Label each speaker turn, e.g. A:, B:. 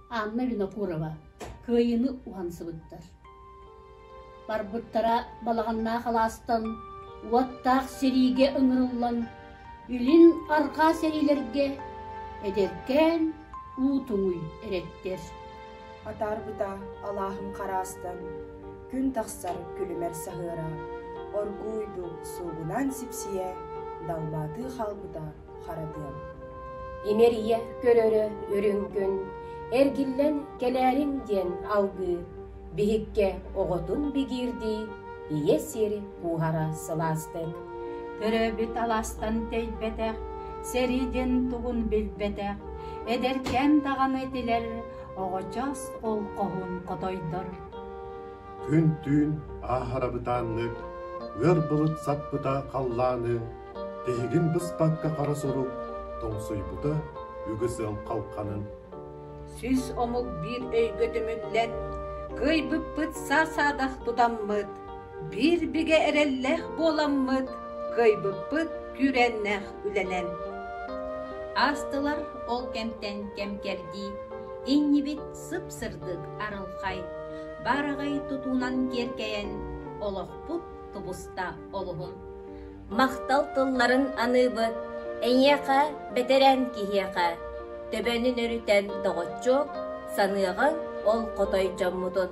A: Анна Винокурова кыайыыны уһан сыбыттар. Барбыттара балаҕаннаах алаастан уоттаах сэриигэ ыҥырыллан, илин арҕаа сэриилэргэ эдэркээн уу туҥуй эрэттэр. Атаарбыта
B: алааһым хараастан, күн тахсар күлүмэр саһыара, оргууйду суугунан сипсийэ, далбаатыы хаалбыта Харадыам. Имэрийэ
C: көрөрө үрүҥ күн эргиллэн кэлээрим диэн алгыы биһиккэ оҕотун бигиирдии ийэ сири кууһара сылаастык төрөөбүт
D: алаастан тэйбэтэх сэриидин тугун билбэтэх эдэркээн даҕаны тилэр оҕочоос олхоһун хотойдор
E: күн түүн ааһара бытааннык ыар былыт саппыта халлааны Эһигин быспакка хара сурук тоҥсуйбута үгүс ыал халханын Сүүс
F: омук биир өйгө түмүллэн, кыайбыппыт саа-саадах тутаммыт, биир бигэ эрэллээх буоламмыт, кыайбыппыт күүрээннээх үлэнэн.
G: Аастылар ол кэмтэн кэм-кэрдии, иннибит сып-сырдык арылхай, баараҕай тутуунан киэркэйэн, олохпут тубуста олуһун. Махтал
C: тылларын аныыбыт эйиэхэ, бэтэрэн киһиэхэ, төбөнүн өрүтэн доҕоччу саныаҕыҥ ол хотой дьоммутун.